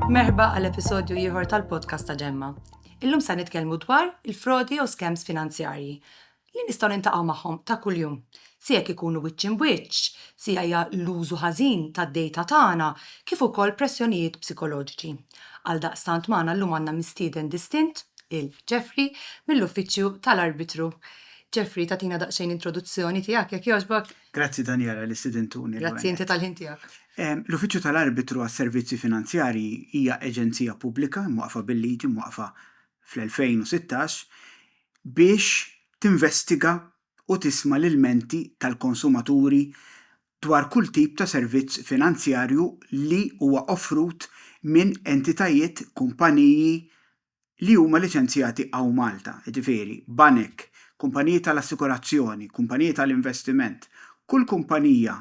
Merba għal episodju ieħor tal-podcast ta' Ġemma. Illum se nitkellmu dwar il-frodi u skems finanzjarji li nistgħu nintaqgħu magħhom ta' kuljum. Si jekk ikunu wiċċ imwiċċ, si hija l-użu ħażin tad-dejta tagħna kif ukoll pressjonijiet psikoloġiċi. Għal daqstant magħna llum għandna mistieden distint il Jeffrey mill-Uffiċċju tal-Arbitru. Jeffrey, tagħtina daqsxejn introduzzjoni tiegħek, jekk jogħġbok? Grazzi Daniela li stidintuni. Grazzi inti tal-ħin tiegħek. L-Uffiċċju tal-Arbitru għas-Servizzi Finanzjarji hija aġenzija pubblika mwaqqfa bil-liġi, mwaqqfa fl-2016, biex tinvestiga u tisma' l-ilmenti tal-konsumaturi dwar kull tip ta' servizz finanzjarju li huwa offrut minn entitajiet, kumpaniji, li huma liċenzjati hawn Malta, jiġifieri, banek, kumpaniji tal-assikurazzjoni, kumpaniji tal-investiment, kull kumpanija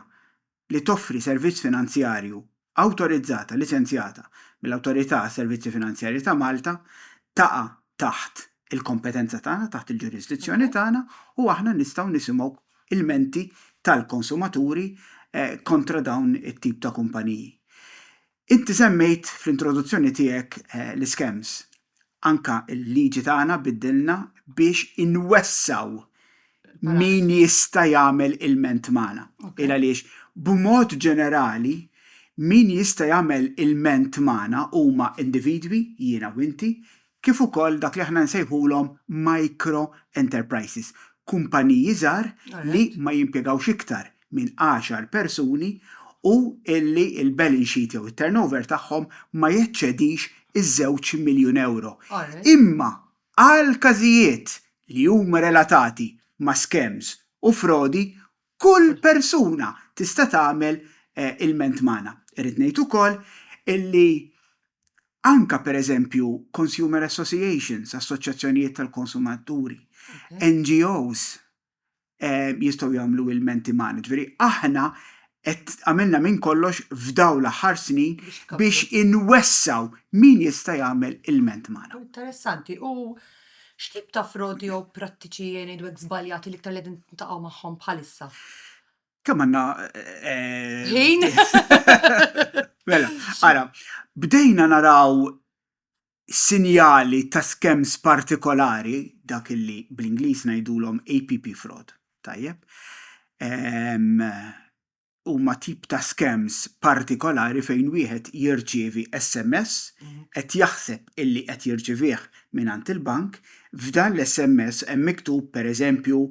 li toffri servizz finanzjarju awtorizzata, liċenzjata, mill-Awtorità għas-Servizzi Finanzjarji ta' Malta, taqa' taħt il-kompetenza tagħna, taħt il-ġurisdizzjoni tagħna, u aħna nistgħu nisimgħu ilmenti tal-konsumaturi kontra dawn it-tip ta' kumpaniji. Inti semmejt fl-introduzzjoni tiegħek l-iskems. Anke l-liġi tagħna biddilna biex inwessgħu min jista' jagħmel ilment magħna. Il għaliex b'mod ġenerali min jista' jagħmel ilment magħna huma individwi, jiena u inti, kif ukoll dak li aħna nsejħulhom micro enterprises, kumpaniji żgħar li ma jimpjegawx iktar minn għaxar persuni u li l-balance sheet jew it-turnover tagħhom ma jeċċedix iż-żewġ miljun ewro. Imma għal każijiet li huma relatati ma' scams u frodi, Kull persuna tista' tagħmel ilment magħna. Irrid ngħid ukoll illi anke pereżempju consumer associations, assoċjazzjonijiet tal-konsumaturi, NGOs jistgħu jagħmlu ilmenti magħna. Ġifieri aħna qed għamilna minn kollox f'dawn l-aħħar snin biex inwessgħu min jista' jagħmel ilment magħna. Interessanti. U X'tip ta' frodi jew prattiċi ngħidulek żbaljati l-iktar li qegħdin tintaqgħu magħhom bħalissa? Kemm għandna Ħin? Mela, ara, bdejna naraw sinjali ta' skems partikolari, dak illi bl-Ingliż ngħidulhom APP fraud, tajjeb, huma tip ta' scams partikolari fejn wieħed jirċievi SMS qed jaħseb illi qed jirċivih mingħand il-bank, f'dan l-SMS hemm miktub pereżempju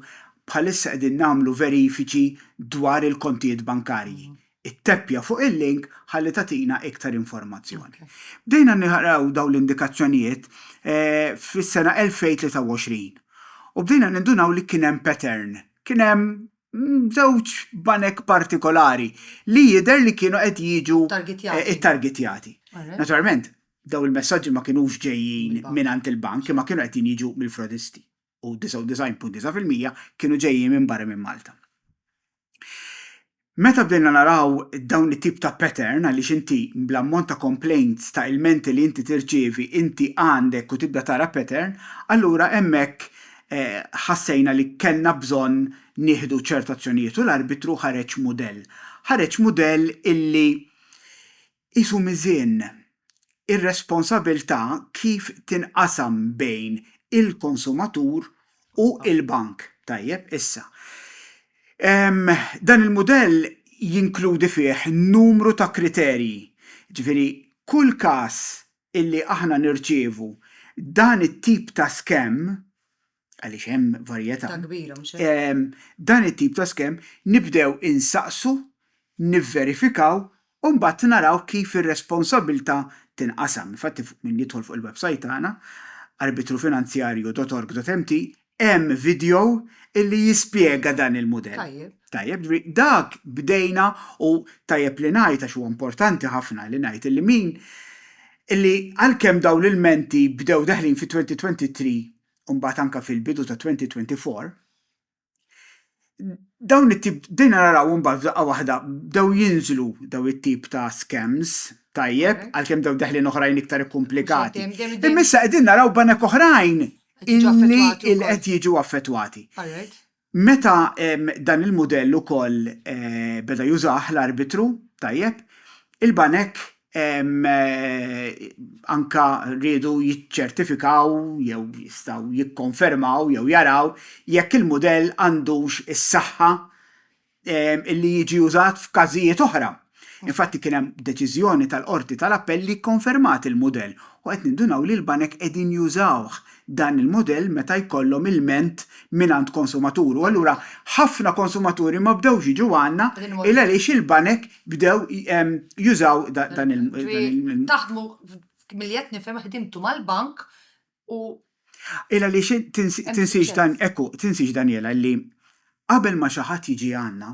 bħalissa qegħdin nagħmlu verifiċi dwar il-kontijiet bankarji, itteppja fuq il-link ħalli tagħtina iktar informazzjoni. Bdejna naraw dawn l-indikazzjonijiet fis-sena 2023 u bdejna nindunaw li kien hemm pattern, kien hemm żewġ banek partikolari li jidher li kienu qed jiġu ttargetjati. Naturalment, dawn il-messaġġi ma kinux ġejjin mingħand il-bank imma kienu qegħdin jiġu mill-frodisti u 99.9 fil-mija kienu ġejjin minn barra minn Malta. Meta bdejna naraw dawn it-tip ta' pattern għaliex inti bl-ammont ta' complaints, ta' ilmenti li inti tirċievi, inti għandek u tibda tara pattern, allura hemmhekk ħassejna li kellna bżonn nieħdu ċertu azzjonijiet u l-arbitru ħareġ mudell. Ħareġ mudell illi qisu miżien ir-responsabilità kif tinqasam bejn il-konsumatur u l-bank. Tajjeb, issa, dan il-mudell jinkludi fih numru ta' kriterji. Jiġifieri, kull każ illi aħna nirċievu dan it-tip ta' skemm, għaliex hemm varjetà, dan it-tip ta' skemm nibdew insaqsu, nivverifikaw u mbagħad naraw kif ir-responsabbiltà tinqasam. Infatti min jidħol fuq il-websajt tagħna, arbitrufinanzjarju.org.mt, Hemm video illi jispjega dan il-mudell. Tajjeb. Tajjeb, ġifieri dak bdejna u tajjeb li ngħid għax huwa importanti ħafna li ngħid illi min illi għalkemm dawn l-ilmenti bdew daħlin fi 2023 u mbagħad anke fil-bidu ta' 2024, dawn it-tip, bdejna narawhom mbagħad f'daqqa waħda bdew jinżlu dawn it-tip ta' scams, tajjeb, għalkemm dawn daħlin oħrajn iktar ikkumplikati. Imma issa qegħdin naraw banek oħrajn illi qed jiġu affettwati. Meta dan il-mudell ukoll beda jużah l-arbitru, tajjeb, il-banek anke riedu jiċċertifikaw jew jistgħu jikkonfermaw jew jaraw jekk il-mudell għandux is-saħħa li jiġi użat f'każijiet oħra. Infatti kien hemm deċiżjoni tal-Qorti tal-Appell li kkonfermat il-mudell u qed nindunaw li l-banek qegħdin jużawh dan il-mudell meta jkollhom ilment mingħand konsumatur u allura ħafna konsumaturi ma bdewx jiġu għandna il għaliex il-banek bdew jużaw dan il- Taħdmu milli qed nifhem ħdimtu mal-bank u Ela li xi tinsiex dan, ekku, tinsiex Daniela li qabel ma xi ħadd jiġi għandna,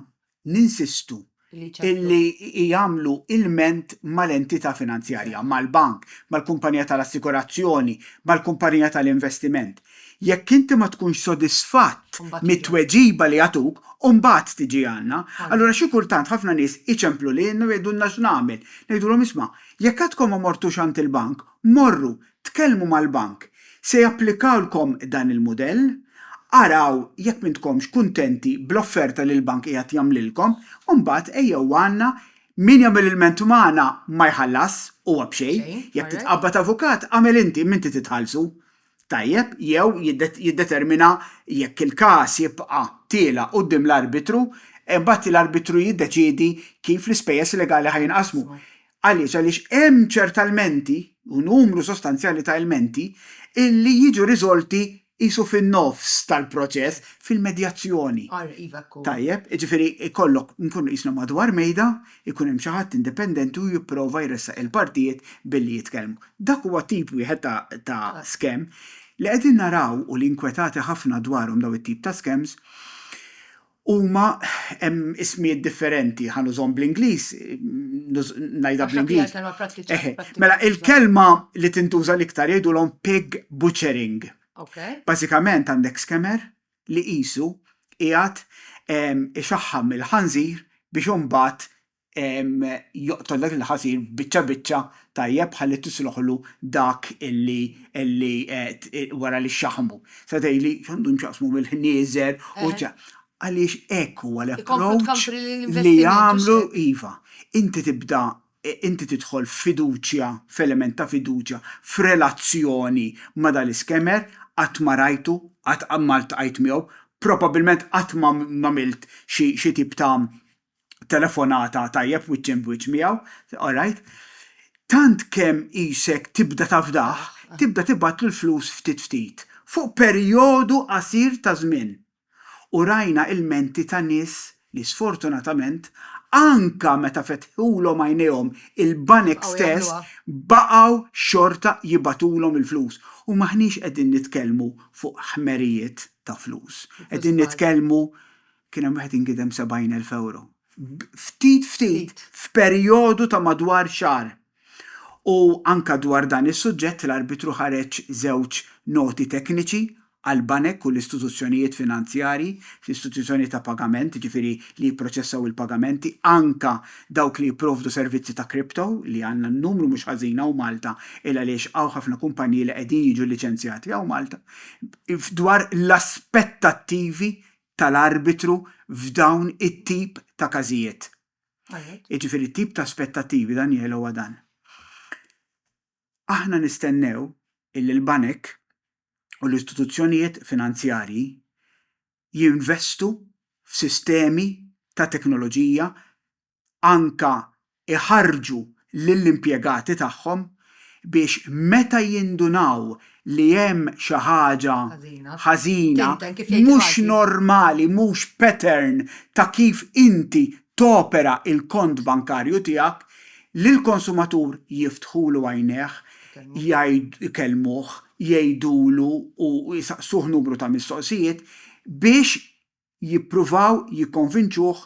ninsistu illi jagħmlu ilment mal-entità finanzjarja, mal-bank, mal-kumpanija tal-assigurazzjoni, mal-kumpanija tal-investiment. Jekk inti ma tkunx sodisfatt mit-tweġiba li jagħtuk, imbagħad tiġi għandna. Allura xi kultant ħafna nies iċemplu lilna u jgħidulna x'nagħmel. Ngħidulhom isma', jekk għadkom ma mortux għand il-bank, morru, tkellmu mal-bank. Se japplikawlkom dan il-mudell. Araw jekk m'intkomx kuntenti bl-offerta li l-bank qiegħed jagħmlilkom, imbagħad ejjew għandna. Min jagħmel ilment magħna ma jħallasx, huwa b'xejn. Jekk titqabbad avukat, agħmel inti, m'inti titħallsu. tajjeb jew jiddetermina jekk il-każ jibqa' tiela' quddiem l-arbitru, imbagħad l-arbitru jiddeċiedi kif l-ispejjeż legali ħa jinqasmu. Għaliex? Għaliex hemm ċerta lmenti, u numru sostanzjali ta' ilmenti, li jiġu riżolti qisu fin-nofs tal-proċess fil-medjazzjoni. Tajjeb, jiġifieri jkollok, inkunu qisna madwar mejda, ikun hemm xi ħadd indipendenti u jipprova jressaq il-partijiet billi jitkellmu. Dak huwa tip wieħed ta' ta' scam. Li qegħdin naraw u li inkwetati ħafna dwarhom dawn it-tip ta' scams huma hemm ismijiet differenti, ħa nużhom bl-Ingliż, ngħidha bl-Ingliż. Eħe, mela il-kelma li tintuża l-iktar jgħidulhom pig butchering. Bażikament għandek scammer li qisu qiegħed ixaħħam il-ħanżir biex imbagħad joqtol dak il-ħażir biċċa biċċa tajjeb ħalli tisluħlu dak li wara li xxaħħmu. Tista' tgħidli x'għandhom x'jaqsmu mill-ħnieżer u ċ-. Għaliex hekk huwa l-approach li jagħmlu, iva. Inti tibda inti tidħol f'fiduċja, f'element ta' fiduċja, f'relazzjoni ma' dan l-iskemer, qatt ma rajtu, qatt ma ltqajt miegħu, probabilment qatt ma għamilt xi tip ta' telefonata tajjeb wiċċ imb wiċċ miegħu, alright, tant kemm qisek tibda tafdah, tibda tibgħatlu l-flus ftit ftit, fuq perjodu qasir ta' żmien. u rajna ilmenti ta' nies li sfortunatament anke meta fetħulhom għajnejhom il-banek stess baqgħu xorta jibagħtulhom il-flus u m'aħniex qegħdin nitkellmu fuq ħmerijiet ta' flus. Qegħdin nitkellmu kien hemm wieħed inkidem 70,000 ewro. Ftit ftit f'perjodu ta' madwar xahar. U anke dwar dan is-suġġett l-Arbitru ħareġ żewġ noti tekniċi għall-banek u l-istituzzjonijiet finanzjarji fl-istituzzjoni ta' pagament, jiġifieri li jipproċessaw il-pagamenti, anke dawk li jipprovdu servizzi ta' kripto, li għandna numru mhux ħażin hawn Malta, il-għaliex hawn ħafna kumpaniji li qegħdin jiġu liċenzjati hawn Malta, dwar l-aspettattivi tal-Arbitru f'dawn it-tip ta' każijiet. Jiġifieri t-tip ta' aspettattivi Daniele huwa dan. Aħna nistennew illi l-banek u l-istituzzjonijiet finanzjarji jinvestu f'sistemi ta' teknoloġija anke jħarrġu lill-impjegati tagħhom biex meta jindunaw li hemm xi ħaġa ħażina, mhux normali, mhux pattern ta' kif inti topera l-kont bankarju tiegħek, lill-konsumatur jiftħulu għajnejh, ikellmuh, jgħidulu u jsaqsuh numru ta' mistoqsijiet biex jippruvaw jikkonvinċuh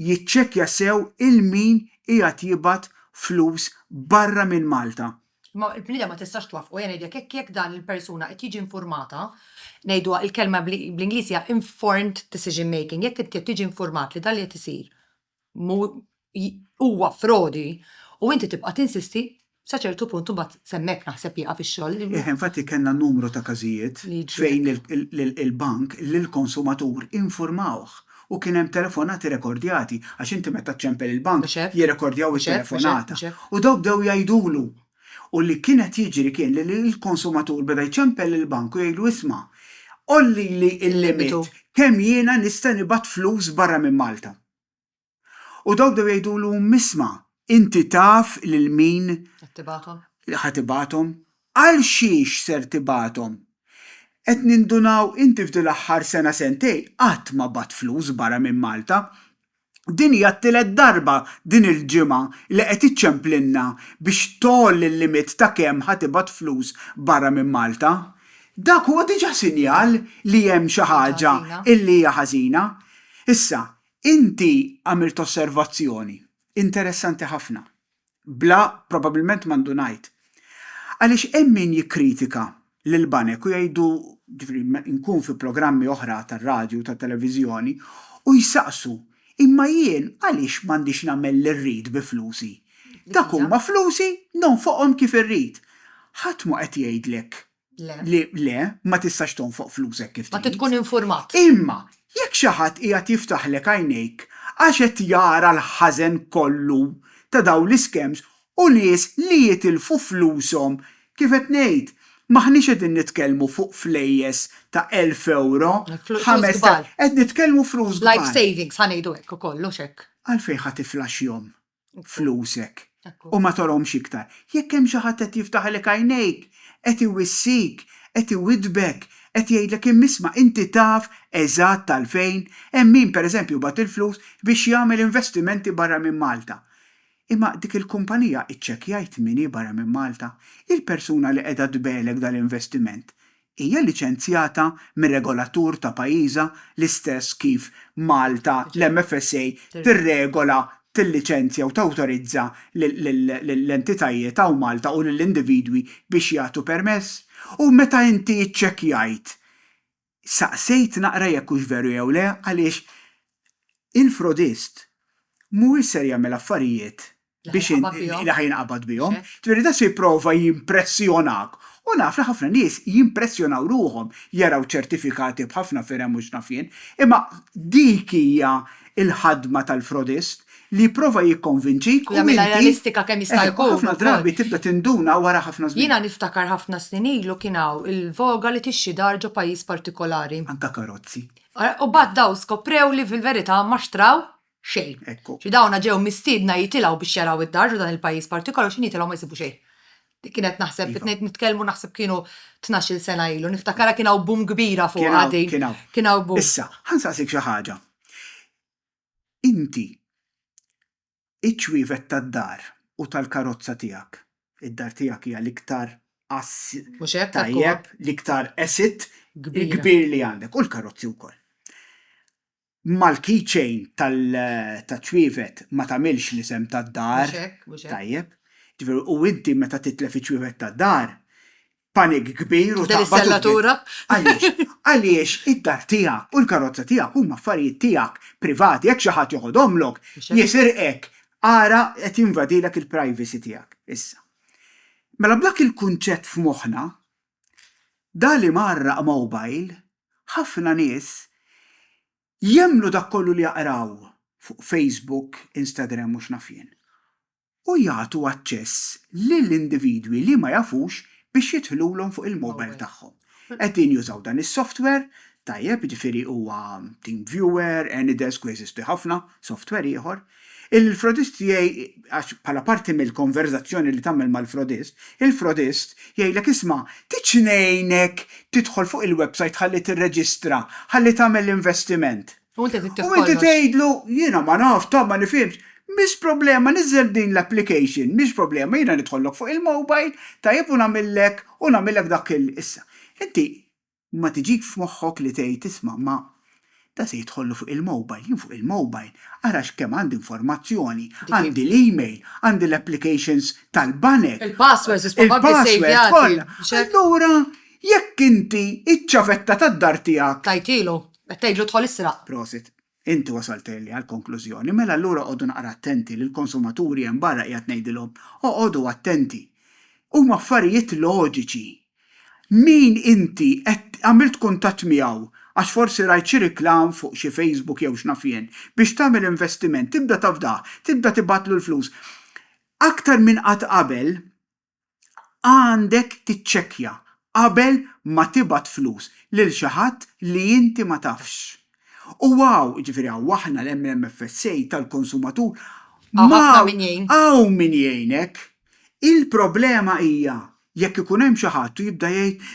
jiċċekkja sew 'il min qiegħed jibgħat flus barra minn Malta. Imma il-bniedem ma tistax twaffqu, ejja ngħidlek hekk, jekk dan il-persuna qed jiġi infurmata, ngħiduha, il-kelma bl-Ingliż hija informed decision making, jekk inti qed tiġi infurmat li dan li qed isir huwa frodi u inti tibqa' tinsisti sa ċertu punt u mbagħad s'hemmhekk naħseb jieqaf ix-xogħol. Eħe, infatti kellna numru ta' każijiet fejn il-bank lill-konsumatur infurmawh u kien hemm telefonati rekordjati għax inti meta ċċempel il-bank jirrekordjaw it-telefonata u dawk bdew jgħidulu U li kien qed jiġri kien li l-konsumatur beda jċempel lill-bank u jgħidlu isma', għollili l-limit kemm jiena nista' nibgħat flus barra minn Malta. U dawk bdew jgħidulu isma', inti taf lil min ħa tibgħathom? Għalxiex ser tibgħathom? Qed nindunaw inti f'dil-aħħar sena sentejn qatt ma bgħatt flus barra minn Malta. Din hija t-tielet darba din il-ġimgħa li qed iċċemplilna biex tgħolli l-limit ta' kemm ħa tibgħat flus barra minn Malta. Dak huwa diġà sinjal li hemm xi ħaġa li hija ħażina. Issa, inti għamilt osservazzjoni interessanti ħafna. Bla, probabbilment m'għandu ngħid. Għaliex hemm min jikkritika lill-banek u jgħidu, jiġifieri meta nkun fi programmi oħra tar-radju u tat-televiżjoni, u jsaqsu, imma jien għaliex m'għandix nagħmel li rrid bi flusi? Dak huma flusi, nonfoqhom kif irrid. Ħadd mhu qed jgħidlek li le, ma tistax tonfoq flusek kif trid. Ma tkun infurmat. Imma jekk xi ħadd qiegħed jiftaħlek għajnejk għax qed jara l-ħażen kollu ta' dawn l-iskems u nies li jitilfu flushom, kif qed ngħid, m'aħniex qegħdin nitkellmu fuq flejjes ta' elf ewro, ħames ta', qed nitkellmu flus kbar. Life savings, ħa ngħidu hekk ukoll, hux hekk? Għalfejn ħa tiflaxxjhom? flusek u ma torhomx iktar. Jekk hemm xi ħadd qed jiftaħilek għajnejk, qed iwissik, qed iwiddbek, qed jgħidlek imma isma' inti taf eżatt għalfejn, hemm min pereżempju bagħat il-flus biex jagħmel investimenti barra minn Malta. Imma dik il-kumpanija iċċekkjajt min hi barra minn Malta? Il-persuna li qiegħda tbegħlek dal-investiment hija liċenzjata mir-regolatur ta' pajjiżha l-istess kif Malta l-MFSA tirregola, tilliċenzja u tawtorizza lill-entitajiet hawn Malta u lill-individwi biex jagħtu permess? U meta inti ċċekkjajt, saqsejt naqra jekk hux veru jew le għaliex il-frodist mhuwiex ser jagħmel affarijiet biex li ħa jinqabad bihom. Ġifieri dan se jipprova jimpressjonak. U naf li ħafna nies jimpressjonaw ruħhom jaraw ċertifikati b'ħafna firem u x'naf jien. Imma dik hija l-ħadma tal-frodist li jipprova jikkonvinċik u jagħmilha realistika kemm jista' jkun. U ħafna drabi tibda tinduna wara ħafna żmien. Jiena niftakar ħafna snin ilu kien hawn il-voga li tixxi dar ġo pajjiż partikolari. Anke karozzi. U mbagħad dawn skoprew li fil-verità ma xtraw xejn. Ekku. Xi dawna ġew mistiedna jitilgħu biex jaraw id-dar ġo dan il-pajjiż partikolaru x'inhi jitilgħu ma jsibu xejn. Dik kienet naħseb Iva. qed nitkellmu naħseb kienu tnax-il sena ilu. Niftakarha kien hawn boom kbira fuqha Kien hawn, din. kien hawn. Kien hawn boom. Issa, ħa nsaqsik xi ħaġa. Inti iċ-ċwievet tad-dar u tal-karozza tiegħek, id-dar tiegħek hija l-iktar ass Mhux hekk, hekk huwa. tajjeb, l-iktar asset Kbira. kbir li għandek, u l-karozzi wkoll. mal-keychain taċ-ċwievet ma tagħmilx l-isem tad-dar. Mhux hekk, mhux hekk. Tajjeb. Jiġifieri u inti meta titlef iċ-ċwievet tad-dar, panic kbir u taqbad. Tibda tistella turab. Għaliex? Għaliex id-dar tiegħek u l-karozza tiegħek huma affarijiet tiegħek privati, jekk xi ħadd joħodhomlok, jisirqek. Ara qed jinvadilek il-privacy tiegħek issa. Mela b'dak il-kunċett f'moħħna, Dan li mgħarraq mobile, ħafna nies jemmnu dak kollu li jaqraw fuq Facebook, Instagram u x'naf jien. U jagħtu aċċess lil individwi li ma jafux biex jidħlulhom fuq il-mobile tagħhom. Qegħdin jużaw dan is-software, tajjeb, jiġifieri huwa TeamViewer, AnyDesk u jeżistu ħafna software ieħor, Il-frodist jgħid, għax bħala parti mill-konverżazzjoni li tagħmel mal-frodist, il-frodist jgħidlek isma' tgħidx ngħinek tidħol fuq il-websajt ħalli tirreġistra, ħalli tagħmel l-investiment. U inti trid tieħu kollox. U inti tgħidlu jiena ma nafx, ta' ma nifhimx. Mhix problema, niżżel din l-application, mhix problema, jiena nidħollok fuq il-mobile, tajjeb u nagħmillek u nagħmillek dak il. Issa, inti ma tiġik f'moħħok li tgħid isma' ma dan se jidħollu fuq il-mobile, jien fuq il-mobile ara x'kemm għandi informazzjoni, għandi l-email, għandi l-applications tal-banek, il-passwords kollha, allura jekk inti iċ-ċavetta tad-dar tiegħek. Tajtilu, qed tgħidlu dħol israq. Prosit. Inti wasalt early għall-konklużjoni, mela allura qogħdu naqra attenti li l-konsumaturi hemm barra qiegħed ngħidilhom, oqogħdu attenti. Huma affarijiet loġiċi. Min inti qed għamilt kuntatt miegħu għax forsi rajt xi reklam fuq xi Facebook jew x'naf jien biex tagħmel investiment, tibda tafdah, tibda tibgħatlu l-flus. Aktar minn qatt qabel, għandek tiċċekkja qabel ma tibgħat flus lil xi ħadd li inti ma tafx. U hawn, jiġifieri hawn aħna l-MMFSA tal-konsumatur, Hawn ħafna min jgħin. hawn min jgħinek. Il-problema hija jekk ikun hemm xi ħadd u jibda jgħid,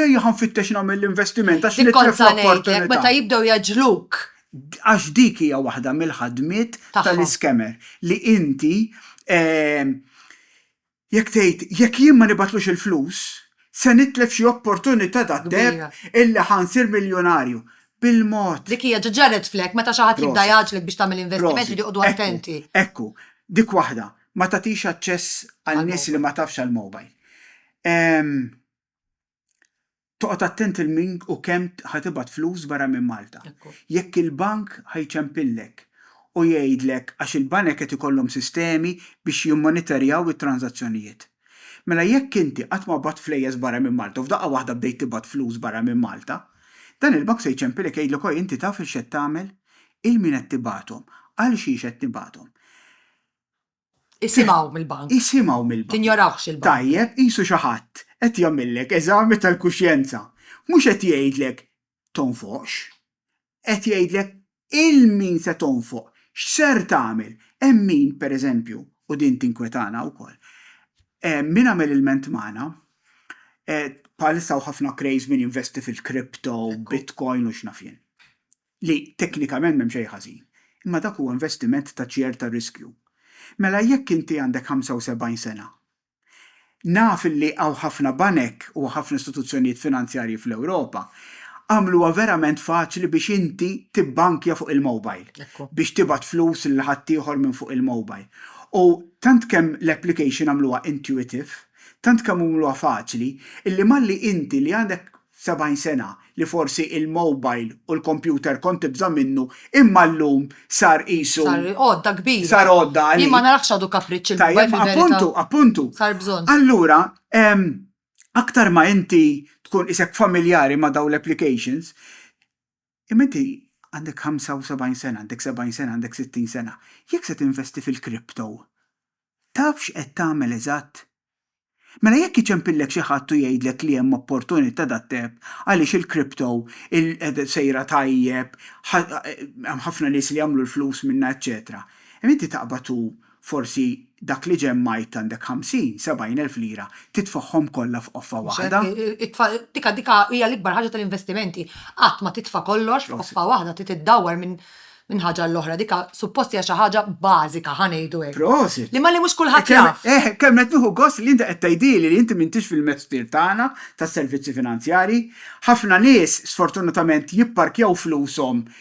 ejja ħa nfittex nagħmel l-investiment għax nitlef l-opportunità. Dik kont sa ngħidlek, meta jibdew jgħeġġluk. Għax dik hija waħda mill-ħadmiet tal-iscammer, li inti Jekk tgħid, jekk jien ma nibgħatlux il-flus, se nitlef xi opportunità dad-deheb illi ħa nsir miljunarju. Bil-mod. Dik hija, ġa ġarret flek, meta xi ħadd jibda jgħaġġlek biex tagħmel investiment jridu joqogħdu attenti. Prosit. Ekku, ekku, dik waħda, ma tagħtix aċċess għal nies li ma tafx għall-mobile. Ehm. Toqgħod attent il min u kemm ħa tibgħat flus barra minn Malta. Jekk il-bank ħa jċempillek u jgħidlek għax il-banek qed ikollhom sistemi biex jimmonitorjaw it-tranżazzjonijiet. Mela jekk inti qatt ma bgħatt flejjes barra minn Malta u f'daqqa waħda bdejt tibgħat flus barra minn Malta, dan il-bank se jċempilek jgħidlek oj inti taf il x'qed tagħmel? Il min qed tibgħathom? Għal xiex qed tibgħathom? Isimgħu mill-bank. Isimgħu mill-bank. Tinjorawx il-bank. Tajjeb, qisu xi ħadd qed jagħmillek eżami tal-kuxjenza. Mhux qed jgħidlek tonfoqx. Qed jgħidlek 'il min se tonfoq, x'ser tagħmel. Hemm min, pereżempju, u din tinkwetana wkoll, min għamel ilment magħna, bħalissa hawn ħafna craze min jinvesti fil-crypto, bitcoin u x'naf jien. li teknikament m'hemm xejn ħażin, imma dak huwa investiment ta' ċerta riskju. Mela jekk inti għandek 75 sena, naf li hawn ħafna banek u ħafna istituzzjonijiet finanzjarji fl-Ewropa għamluha verament faċli biex inti tibbankja fuq il-mobile, biex tibgħat flus lil ħaddieħor minn fuq il-mobile. U tant kemm l-application għamluha intuitive, tant kemm għamluha faċli, illi malli inti li għandek 70 sena li forsi il-mowbajl u l-kompjuter kont tibża' minnu imma llum sar qisu. Sar għodda kbira. Sar għodda għalik. Jien ma narax għadu kapriċċ il-mowbajl fil-verità. Tajjeb, appuntu, appuntu. Sar bżonn. Allura, aktar ma inti tkun qisek familjari ma' dawn l-applications, Imma inti għandek 75 sena, għandek 70 sena, għandek 60 sena, jekk se tinvesti fil-crypto, taf x'qed tagħmel eżatt? Mela jekk iċempillek xi ħadd u jgħidlek li hemm opportunita dat-deheb għaliex il-crypto sejra tajjeb, hemm ħafna nies li jagħmlu l-flus minnha eċċetera, imma inti taqbad u Forsi dak li ġemmajt għandek ħamsin, sebgħin elf lira, titfagħhom kollha f'qoffa waħda? Dik dik hija l-ikbar ħaġa tal-investimenti. Qatt ma titfa' kollox f'qoffa waħda, trid iddawwar minn ħaġa għal oħra. Dik suppost hija xi ħaġa bażika, ħa ngħidu hekk. Prosit! Li malli mhux kulħadd jaf. Eh, kemm qed nieħu gost li inti qed tgħidhieli li inti m'intix fil-mestier tagħna tas-servizzi finanzjarji. Ħafna nies, sfortunatament, jipparkjaw flushom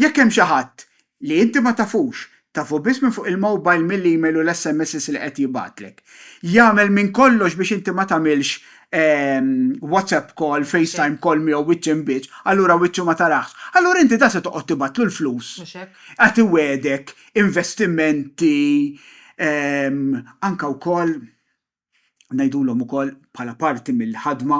Jekk hemm xi ħadd, li inti ma tafux, tafu biss minn fuq il-mowbajl mill-email u l-SMSs li qed jibgħatlek, jagħmel minn kollox biex inti ma tagħmilx WhatsApp call, FaceTime call miegħu wiċċ imbiċċ, allura wiċċu ma taraħx, allura inti dan se toqgħod tibgħatlu l-flus, qed iwegħdek investimenti, anke wkoll. ngħidulhom ukoll bħala parti mill-ħadma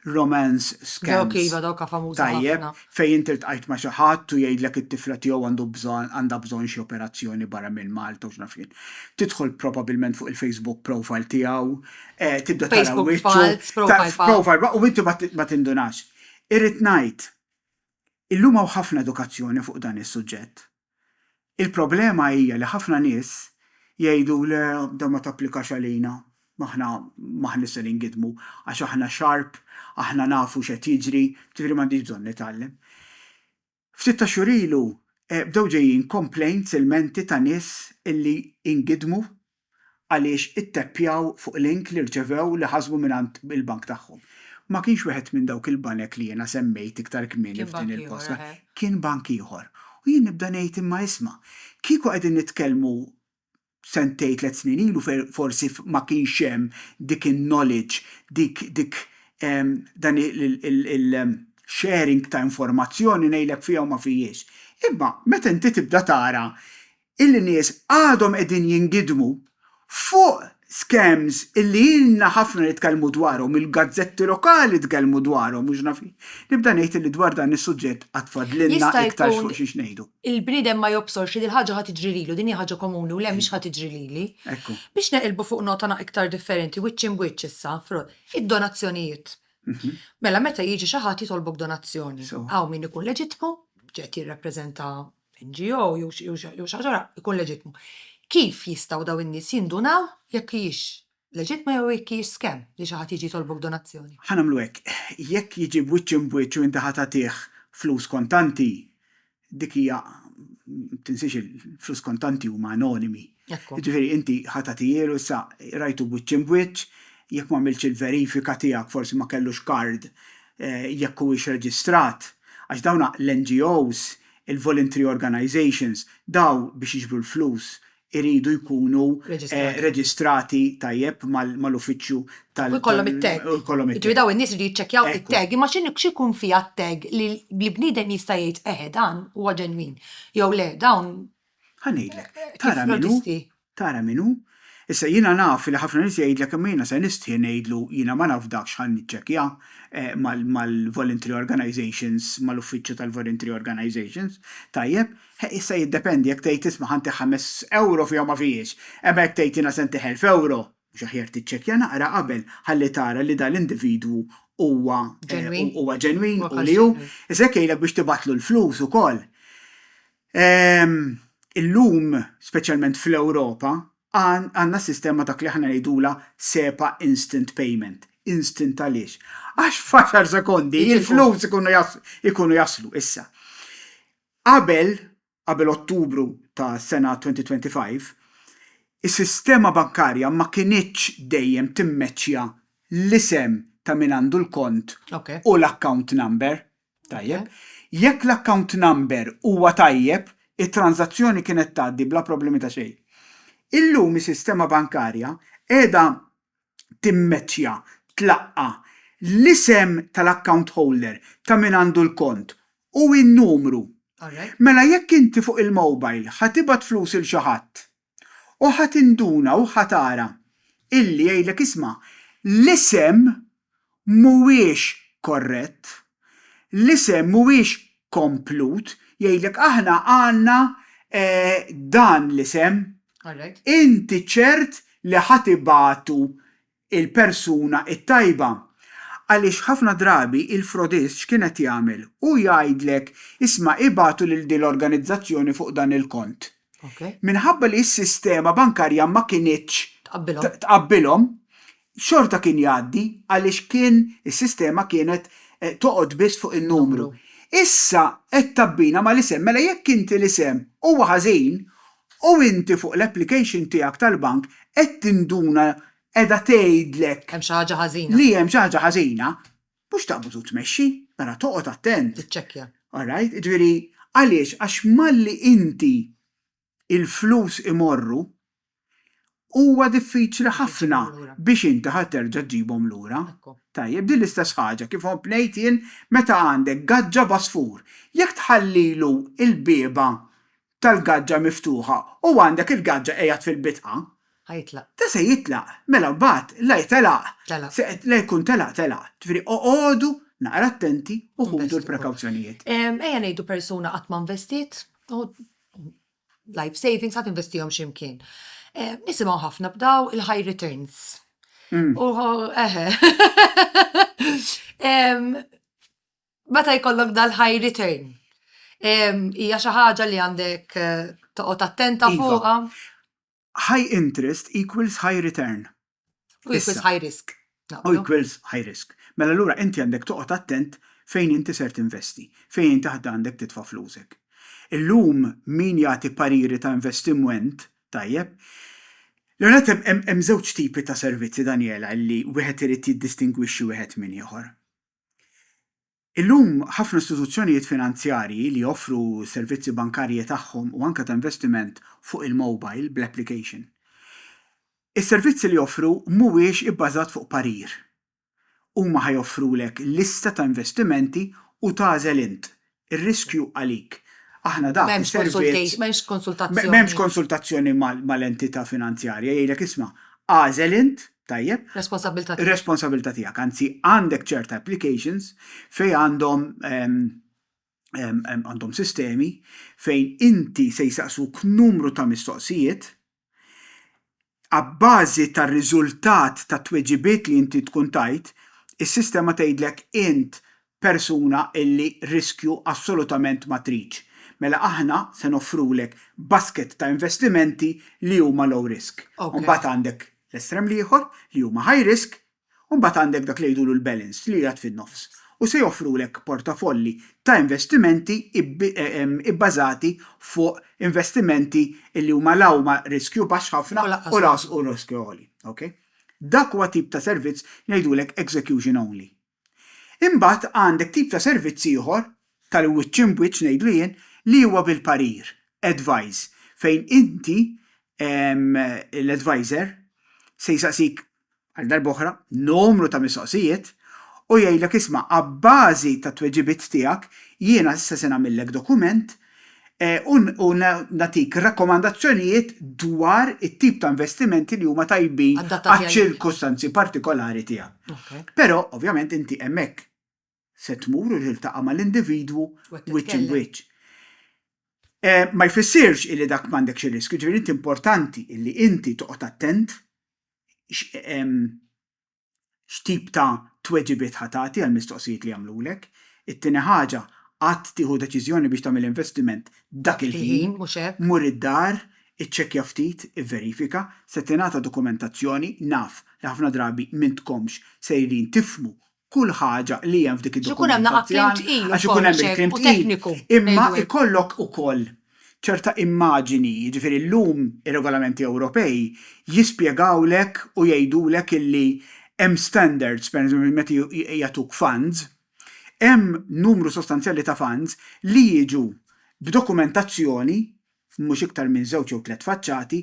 romance scams. Dawk iva, dawk ha famużi ħafna. Tajjeb, fejn inti ltqajt ma' xi ħadd u jgħidlek it-tifla tiegħu għandu bżonn għandha bżonn xi operazzjoni barra minn Malta u x'naf jien. Tidħol probabilment fuq il-Facebook profile tiegħu, tibda tara wiċċu. Facebook falz, profile falz. Profile falz, u inti ma tindunax. Irrid ngħid, illum hawn ħafna edukazzjoni fuq dan is-suġġett. Il-problema hija li ħafna nies jgħidu le dan ma tapplikax għalina, aħna m'aħniex se ningidmu għax aħna sharp, aħna nafu x'qed jiġri, ġifieri m'għandix bżonn nitgħallem. Ftit tax-xhur ilu bdew ġejjin complaints, ilmenti ta' nies li ingidmu għaliex itteppjaw fuq link li rċevew li ħasbu mingħand il-bank tagħhom. Ma kienx wieħed minn dawk il-banek li jiena semmejt iktar kmieni f'din il-postcard, kien bank ieħor. U jien nibda ngħid imma isma', kieku qegħdin nitkellmu sentejn tliet snin ilu fejn forsi ma kienx hemm dik in-knowledge, dik dik dan il-sharing ta' informazzjoni ngħidlek fiha u ma fihiex. Imma meta inti tibda tara il-nies għadhom qegħdin jingidmu fuq scams illi ilna ħafna nitkellmu dwarhom, il-gazzetti lokali tkellmu dwarhom u x'naf jien. Nibda ngħid illi dwar dan is-suġġett għad fadlilna iktarx fuq xiex ngħidu. Jista' jkun il-bniedem ma jobsorx li dil-ħaġa ħa tiġri lilu, din hi ħaġa komuni u le mhix ħa tiġri lili. Biex neqilbu fuq nota iktar differenti, wiċċ imb wiċċ issa, id-donazzjonijiet. Mela meta jiġi xi ħadd jitolbok donazzjoni, hawn min ikun leġittmu, qed jirrappreżenta NGO jew xi ħaġa oħra, ikun leġittmu. Kif jistgħu dawn in-nies jindunaw jekk hijiex leġittma jew jekk hijiex scam li xi ħadd jiġi jitolbok donazzjoni? Ħa nagħmlu hekk, jekk jiġi b'wiċċ imb'wiċċ u inti ħa tagħtih flus kontanti, dik hija, ma tinsiex il-flus kontanti huma anonimi. Jiġifieri inti ħa tagħtihielu, issa rajtu b'wiċċ imb'wiċċ, jekk m'għamiltx il-verifika tiegħek forsi ma kellux card, jekk huwiex reġistrat, għax dawn l-NGOs il-voluntary organisations, dawn biex jiġbru l-flus iridu jkunu reġistrati tajjeb mal-uffiċċju tal-. U jkollhom it-tag. U jkollhom it-tag. Jiġifieri dawn in-nies iridu jiċċekkjaw it-tag. Imma x'ikun fiha t-tag li bniedem jista' jgħid eħe dan huwa ġenwin jew le dawn. Ħa ngħidlek. Tara min hu. Tara min hu? Issa, jiena naf li ħafna nies jgħidlek imma jiena se nistħi ngħidlu jiena ma nafdakx ħa niċċekkja mal-voluntary organisations, mal-uffiċċju tal-voluntary organisations. Tajjeb, he, issa jiddependi jekk tgħid isma' ħa ntiħ ħames ewro fiha ma fihiex, imma jekk tgħid jiena se ntiħ elf ewro, mhux aħjar tiċċekkja naqra qabel ħalli tara li dan l-individwu huwa ġenwin u li hu. Issa jekk jgħidlek biex tibgħatlu l-flus ukoll, Ehm, illum, speċjalment fl-Ewropa, għandna sistema dak li aħna ngħidulha SEPA Instant Payment. Instant għaliex? Għax f'għaxar sekondi l-flus ikunu jaslu. Issa, qabel, qabel Ottubru tas-sena 2025, is-sistema bankarja ma kinitx dejjem timmeċċja l-isem ta' min għandu l-kont u l-account number. Tajjeb. Jekk l-account number huwa tajjeb, it-tranżazzjoni kienet tgħaddi bla problemi ta' xejn. Illum is-sistema bankarja qiegħda timmeċċja, tlaqqa', l-isem tal-account holder, ta' min għandu l-kont, u n-numru. Mela jekk inti fuq il-mobile ħa tibgħat flus 'il xi ħadd, U ħa tinduna u ħa tara illi jgħidlek isma' l-isem mhuwiex korrett, l-isem mhuwiex komplut, jgħidlek aħna għandna dan l-isem, inti ċert li ħa tibagħtu il-persuna t-tajba. Għaliex ħafna drabi il-frodist x'kienet jagħmel? Hu jgħidlek, isma' ibagħtu lil din l-organizzazzjoni fuq dan il-kont. Minħabba li s-sistema bankarja ma kinitx tqabbilhom, xorta kien jgħaddi għaliex kien is-sistema kienet toqgħod biss fuq in-numru. Issa qed tgħabbina mal-isem, mela jekk inti l-isem huwa ħażin, U inti fuq l-application tiegħek tal-bank qed tinduna qiegħda tgħidlek. Hemm xi ħaġa ħażina. Li hemm xi ħaġa ħażina, mhux taqbad u tmexxi, mela toqgħod attent. Tiċċekkja. All right? Jiġifieri, għaliex? Għax malli inti l-flus imorru, Huwa diffiċli ħafna biex inti ħa terġa' ġġibhom lura. Tajjeb, din l-istess ħaġa kif kont ngħid jien meta għandek gaġġa b'għasfur. Jekk tħallilu l-bieba tal-gaġġa miftuħa u għandek il-gaġġa qiegħed fil-bitħa, da se jitlaq, mela mbagħad la jtelaq, la jkun telaq telaq. Ġifieri oqogħdu naqra attenti u ħudu l-prekawzjonijiet. Ejja ngħidu persuna qatt ma investiet u life savings ħa tinvestihom xi mkien. Eh, nisimgħu ħafna b'daw il-high returns. Mm. Eħe. Meta jkollok dal-high return, hija xi ħaġa li għandek eh, toqgħod attenta iva. fuqha. High interest equals high return. U equals high risk. U equals high risk. Mela allura inti għandek toqgħod attent fejn inti ser tinvesti, fejn inti ħadd għandek titfa' flusek. Illum min jagħti pariri ta' investimwent tajjeb, l-ewwel nett hemm żewġ tipi ta' servizzi Daniela li wieħed irid jiddistingwixxi wieħed minn ieħor. Illum, ħafna istituzzjonijiet finanzjarji li joffru s-servizzi bankarji tagħhom u anke ta' investiment fuq il-mobile bl-application. Is-servizzi li joffru mhuwiex ibbażat fuq parir. Huma ħa joffrulek lista ta' investimenti u tagħżel int. Ir-riskju għalik. Aħna dak is-servizz. M'hemmx konsultazzjoni. M'hemmx konsultazzjoni mal-entità finanzjarja, jgħidlek isma', agħżel int Tajjeb? Responsabbiltà tiegħek. Responsabbiltà tiegħek, anzi għandek ċerta applications fejn għandhom għandhom sistemi fejn inti se jsaqsuk numru ta' mistoqsijiet, abbażi tar-riżultat tat-tweġibiet li inti tkun tajt, is-sistema tgħidlek int persuna illi riskju assolutament ma tridx, mela aħna se noffrulek basket ta' investimenti li huma low risk. U mbagħad għandek l-estrem l-ieħor li huma high risk, u mbagħad għandek dak li jgħidulu l-balanced li qiegħed fin-nofs. U se joffrulek portafolli ta' investimenti ibbażati fuq investimenti illi huma la huma riskju baxx ħafna u lanqas riskju għoli. Dak huwa tip ta' servizz li ngħidulek execution only. Imbagħad għandek tip ta' servizz ieħor, tal-wiċċ imb wiċċ ngħidlu jien, li huwa bil-parir, advise, fejn inti, l-adviser, se jsaqsik, għal darba oħra, numru ta' mistoqsijiet u jgħidlek isma' abbażi tat-tweġibiet tiegħek jiena issa se nagħmillek dokument u nagħtik rakkomandazzjonijiet dwar it-tip ta' investimenti li huma tajbin għaċ-ċirkustanzi partikolari tiegħek. Però, ovvjament, inti hemmhekk se tmur u tiltaqa' mal-individwu wiċċ imb'wiċċ. Ma jfissirx illi dak m'għandekx ir-riskju, ġifieri inti importanti illi inti toqgħod attent x'tip ta' tweġibiet ħa tagħti għall-mistoqsijiet li jagħmlulek. It-tieni ħaġa, qatt tieħu deċiżjoni biex tagħmel investiment dak il-ħin, mur id-dar, iċċekkja ftit, ivverifika, se tingħata dokumentazzjoni, naf li ħafna drabi m'intkomx sejrin tifhmu kull ħaġa li hemm f'dik id-dokumentazzjoni għax ikun hemm il-kliem tqil, imma jkollok ukoll ċerta immaġini, jiġifieri llum ir-regolamenti Ewropej jispjegawlek u jgħidulek illi hemm standards, pereżempju meta jagħtuk funds, hemm numru sostanzjali ta' funds li jiġu b'dokumentazzjoni, mhux iktar minn żewġ jew tliet faċċati,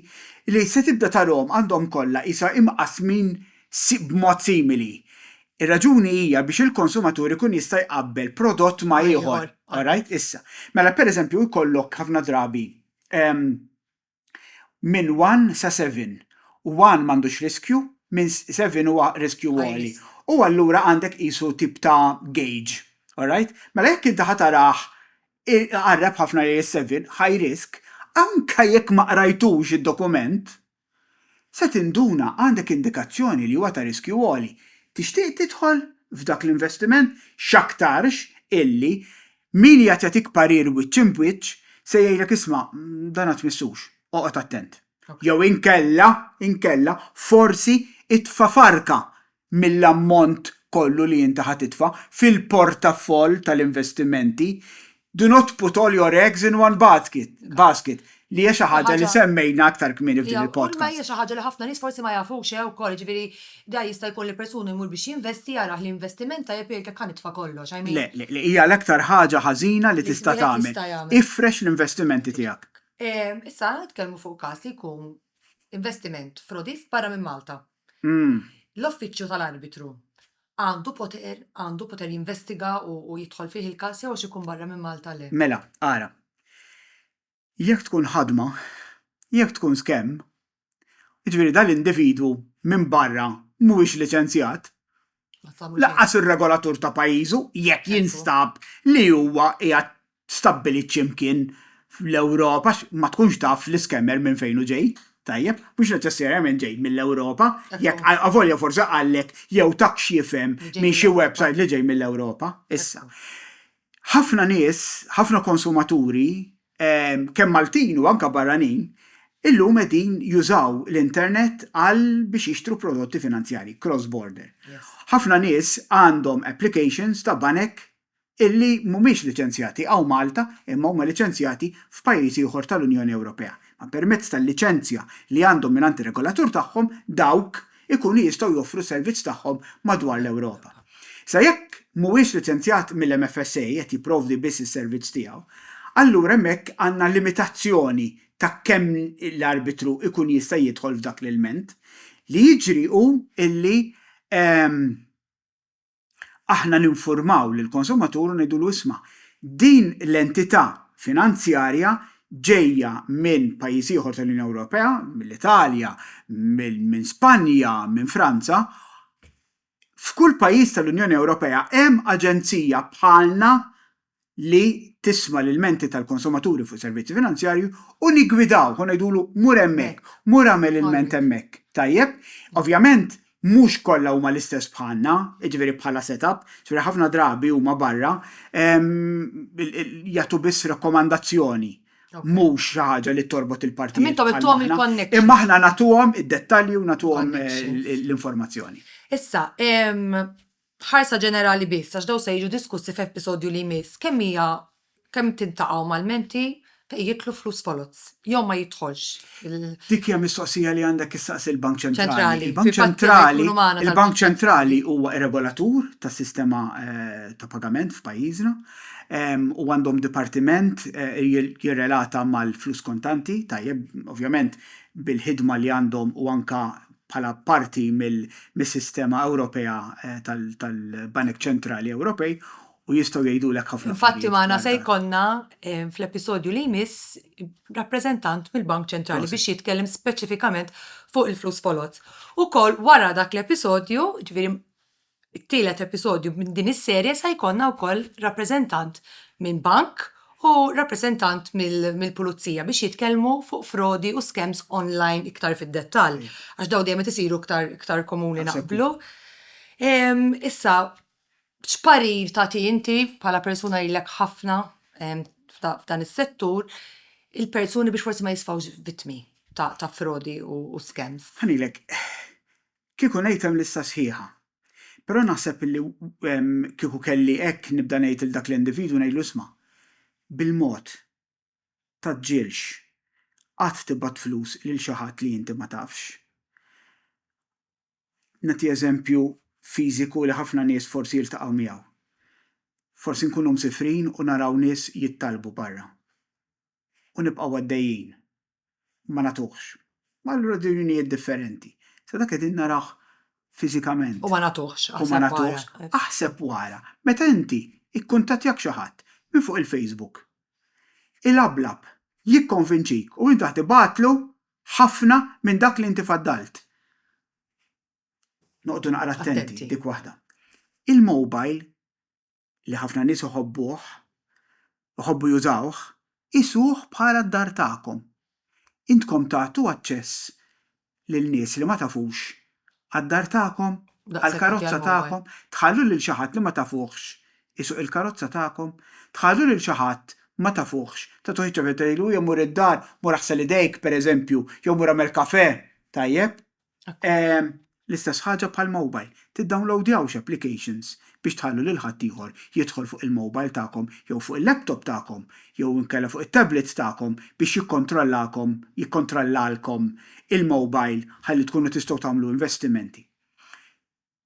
li se tibda tarahom għandhom kollha qisha imqassmin b'mod simili. Ir-raġuni hija biex il-konsumatur ikun jista' jqabbel prodott ma' ieħor. Alright? Issa, mela pereżempju jkollok ħafna drabi minn one sa seven. One m'għandux riskju, minn seven huwa riskju għoli. U allura għandek qisu tip ta' gauge. Alright? Mela jekk inti ħa tarah iqarreb ħafna lejn is-seven, high risk, anke jekk ma qrajtux id-dokument, Se tinduna għandek indikazzjoni li huwa ta' riskju għoli. Tixtieq tidħol f'dak l-investiment? X'aktarx illi min qiegħed jagħtik parir wiċċ imb wiċċ se jgħidlek isma', dan ma tmissux, oqgħod attent. Jew inkella, inkella, forsi itfa' farka mill-ammont kollu li inti ħa titfa' fil-portafoll tal-investimenti, do not put all your eggs in one basket, basket, li hija xi ħaġa li semmejna aktar kmieni f'din il-podcast. Kulma hija xi ħaġa li ħafna nies forsi ma jafux eh ukoll, jiġifieri da jista' jkun li persuna jmur biex jinvesti jarah li investiment tajjeb jgħid jekk ħa nitfa' kollox, I mean. Le, le, le, hija l-aktar ħaġa ħażina li tista' tagħmel. Ifrex l-investimenti tiegħek. Issa ħa nitkellmu fuq każ li jkun investiment frodi f'barra minn Malta. L-Uffiċċju tal-Arbitru għandu poter għandu poter jinvestiga u u jidħol fih il-każ jew għax ikun barra minn Malta le? Mela, ara. Jekk tkun ħadma, jekk tkun skemm, jiġifieri dan l-individwu minn barra mhuwiex liċenzjat, lanqas ir-regolatur ta' pajjiżu jekk jinstab li huwa qiegħed stabbilit xi mkien fl-Ewropa għax ma tkunx taf l-iscammer minn fejn hu ġej, tajjeb, mhux neċessarjament ġej mill-Ewropa, jekk avolja forsi qallek jew tak x'jifhem minn xi website li ġej mill-Ewropa. Issa, Ħafna nies, ħafna konsumaturi, kemm Maltin u anke barranin, illum qegħdin jużaw l-internet għal biex jixtru prodotti finanzjarji cross border. Ħafna nies għandhom applications ta' banek illi mhumiex liċenzjati hawn Malta imma huma liċenzjati f'pajjiż ieħor tal-Unjoni Ewropea. Permezz tal-liċenzja li għandhom mingħand ir-regolatur tagħhom dawk ikunu jistgħu joffru s-servizz tagħhom madwar l-Ewropa. Sa jekk mhuwiex liċenzjat mill-MFSA qed jipprovdi biss is-servizz tiegħu, allura hemmhekk għandna limitazzjoni ta' kemm l-arbitru jkun jista' jidħol f'dak l-ilment. Li jiġri hu li aħna ninfurmaw lill-konsumatur u ngħidulu isma' din l-entità finanzjarja ġejja minn pajjiż ieħor tal-Unjoni Ewropea, mill-Italja, minn Spanja, minn Franza, f'kull pajjiż tal-Unjoni Ewropea hemm aġenzija bħalna li tisma' l-ilmenti tal-konsumaturi fuq servizzi finanzjarji u niggwidawh u ngħidulu mur hemmhekk, mur agħmel ilment hemmhekk. Tajjeb? Ovvjament mhux kollha huma l-istess bħalna, jiġifieri bħala set-up, jiġifieri ħafna drabi huma barra jagħtu biss rakkomandazzjoni, mhux xi ħaġa li torbot il-partijiet bħal aħna. Kemm intom għedtuhom il-connections. Imma aħna nagħtuhom id-dettalji u nagħtuhom l-informazzjoni. Issa, Ħarsa ġenerali biss, għax dawn se jiġu diskussi f'episodju li jmiss, kemm hija kemm tintaqa' huma l-menti fejn jidħlu flus foloz jew ma jidħolx il. Dik hija mistoqsija li għandek issaqsi l-Bank Ċentrali. Il-Bank Ċentrali, il-Bank Ċentrali huwa r-regolatur tas-sistema ta' pagament f'pajjiżna u għandhom dipartiment jirrelata mal-flus kontanti, tajjeb, ovvjament bil-ħidma li għandhom u anke bħala parti mis-sistema Ewropea tal-banek ċentrali Ewropej u jistgħu jgħidulek ħafna affarijiet. Infatti magħna se jkollna fl-episodju li jmiss rappreżentant mill-Bank Ċentrali biex jitkellem speċifikament fuq il-flus foloz. Ukoll wara dak l-episodju, ġifieri It-tielet episodju minn din is-serje sa jkollna wkoll rappreżentant minn bank u rappreżentant mill-pulizija biex jitkellmu fuq frodi u scams online iktar fid-dettall għax dawn dejjem qed isiru iktar iktar komuni naqblu. Issa x'parir tagħti inti bħala persuna li ilek ħafna f'dan is-settur il-persuni biex forsi ma jisfgħux vittmi ta' frodi u scams? Ħa ngħidlek, Kieku ngħid hemm lista sħiħa. Però naħseb illi kieku kelli hekk nibda ngħid lil dak l-individwu ngħidlu isma' bil-mod tgħaġġilx qatt tibgħat flus lil xi ħadd li inti ma tafx. Nagħti eżempju fiżiku li ħafna nies forsi jiltaqgħu miegħu. Forsi nkunu msifrin u naraw nies jittallbu barra. u nibqgħu għaddejjin, ma nagħtuhx. Ma għal raġunijiet differenti. Sa dak qegħdin narawh fiżikament. U ma nagħtuhx, aħseb wara. Aħseb wara. Meta inti ikkuntattjak xi ħadd minn fuq il-Facebook, ilablab, jikkonvinċik u inti qed tibgħatlu ħafna minn dak li inti faddalt. Noqogħdu naqra attenti, dik waħda. Il-mobile li ħafna nies iħobbuh, iħobbu jużawh, qisuh bħala d-dar tagħkom. Intkom tagħtu aċċess lil nies li ma tafux għad-dar tagħkom, għall-karozza tagħkom? Tħallu lil xi ħadd li ma tafuhx isuq il-karozza tagħkom? Tħallu lil xi ħadd ma tafuhx tagħtuh iċ-ċaffetta tgħidlu, Ejja mur id-dar, mur aħsel idejk, pereżempju, jew mur agħmel kafè, tajjeb? L-istess ħaġa bħall-mowbajl, tiddownlowdjawx applications biex tħallu lil ħaddieħor jidħol fuq il-mowbajl tagħkom jew fuq il-laptop tagħkom jew inkella fuq it-tablets tagħkom biex jikkontrollakom, jikkontrollalkom, il-mowbajl ħalli tkunu tistgħu tagħmlu investimenti.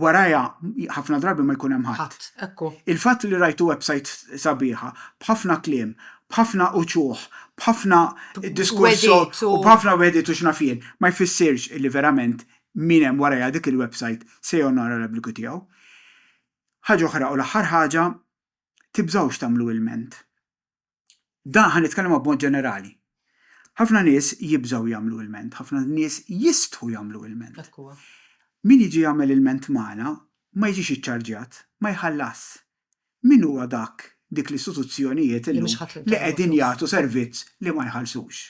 warajha ħafna drabi ma jkun hemm ħadd. Il-fatt li rajtu websajt sabiħa, b'ħafna kliem, b'ħafna uċuħ, b'ħafna diskors u b'ħafna wegħdiet u x'naf jien, ma jfissirx li verament min hemm warajha dik il-websajt se jonora l-obbligu tiegħu. Ħaġa oħra u l-aħħar ħaġa, tibżgħux tagħmlu ilment. Dan ħa nitkellem b'mod ġenerali. Ħafna nies jibżgħu jagħmlu ilment, ħafna nies jistħu jagħmlu ilment. Hekk huwa. Min jiġi jagħmel ilment magħna ma jiġix iċċarġjat, ma jħallasx. Min huwa dak, dik l-istituzzjonijiet illum li qegħdin jagħtu servizz li ma jħallsux?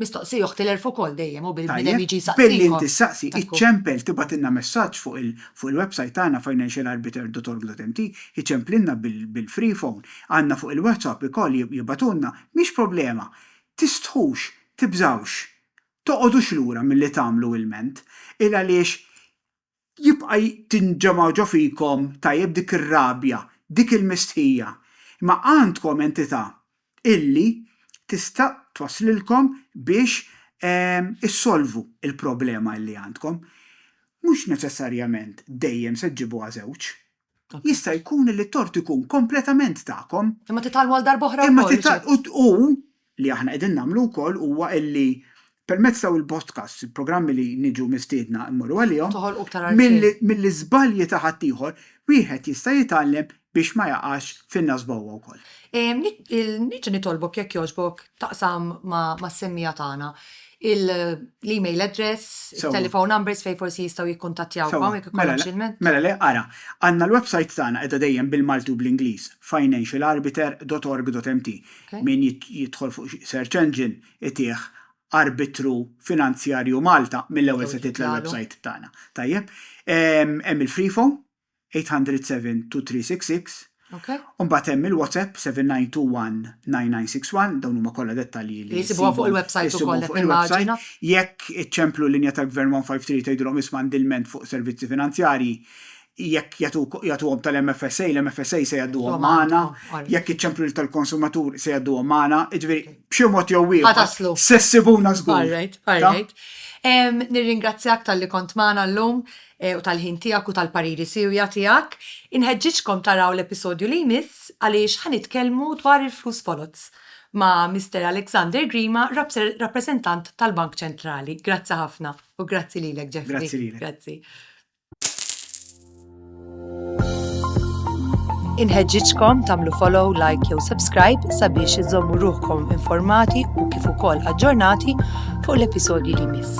Mistoqsija u ħtilef ukoll dejjem u bil-bniedem jiġi jsaqsikom. Tajjeb, billi inti ssaqsi, iċċempel, tibgħatilna messaġġ fuq il fuq il-website tagħna financialarbiter.org.mt, iċċemplilna bil bil-free phone, għandna fuq il-WhatsApp ikoll jib jibgħatulna, mhix problema. Tistħux, tibżgħux, toqgħodux lura milli tagħmlu ilment, il għaliex jibqa' tinġema' ġo fikom, tajjeb, dik ir-rabja, dik il-mistħija. Imma għandkom entità illi tista' twasslilkom biex issolvu l-problema illi għandkom. Mhux neċessarjament dejjem se ġġibuha żewġ. Jista' jkun li t-tort ikun kompletament tagħkom. Imma titgħallmu għal darb'oħra wkoll. U li aħna qegħdin nagħmlu wkoll huwa li permezz ta' il-podcasts, il-programmi li niġu mistiedna mmorru għalihom. Toħolqu iktar għarfien. Mill-iżbalji ta' ħaddieħor, wieħed jista' jitgħallem biex ma jaqax fin-nasba huwa wkoll. Niġi nitolbok jekk jogħġbok taqsam mas-semmiegħa tagħna l-email address, telephone numbers fejn forsi jistgħu jikkuntattjawkom jekk ikollhom xi lment. Mela le, ara, għandna l-websajt tagħna qiegħda dejjem bil-Malti u bl-Ingliż, financialarbiter.org.mt. Min jidħol fuq xi search engine itih Arbitru Finanzjarju Malta mill-ewwel se titla' l-websajt tagħna. Tajjeb? Hemm il-freephone. 800-72366 Ok. U mbagħad hemm il-WhatsApp 79219961, dawn huma kollha dettalji li Isibuha fuq il-website issibhom ukoll qed fuq il-website. nimmaġina. Jekk iċċemplu l-linja tal-Gvern 153 u tgħidulhom isma' għandi lment fuq servizzi finanzjarji, jekk jagħtuk jagħtuhom tal-MFSA, l-MFSA se jgħadduhom Jgħadduhom magħna. għandkom, all right. Jekk iċċemplu lil tal-konsumatur se jgħadduhom magħna, jiġifieri Ok. b'xi mod jew Ħa ieħor taslu. se ssibuna żgur. All right, all Ta? right. Em, Nirringrazzjak talli kont magħna llum. u tal-ħin tiegħek u tal-pariri siewja tiegħek. Inħeġġiġkom taraw l-episodju li jmiss għaliex ħa nitkellmu dwar il-flus foloz ma' Mister Alexander Grima, rappreżentant tal-Bank Ċentrali. Grazzi ħafna u grazzi lilek Jeffrey. Grazzi lilek. Grazzi. Inħeġġiġkom tagħmlu follow, like jew subscribe sabiex iżommu ruħkom informati u kif ukoll aġġornati fuq l-episodji li miss.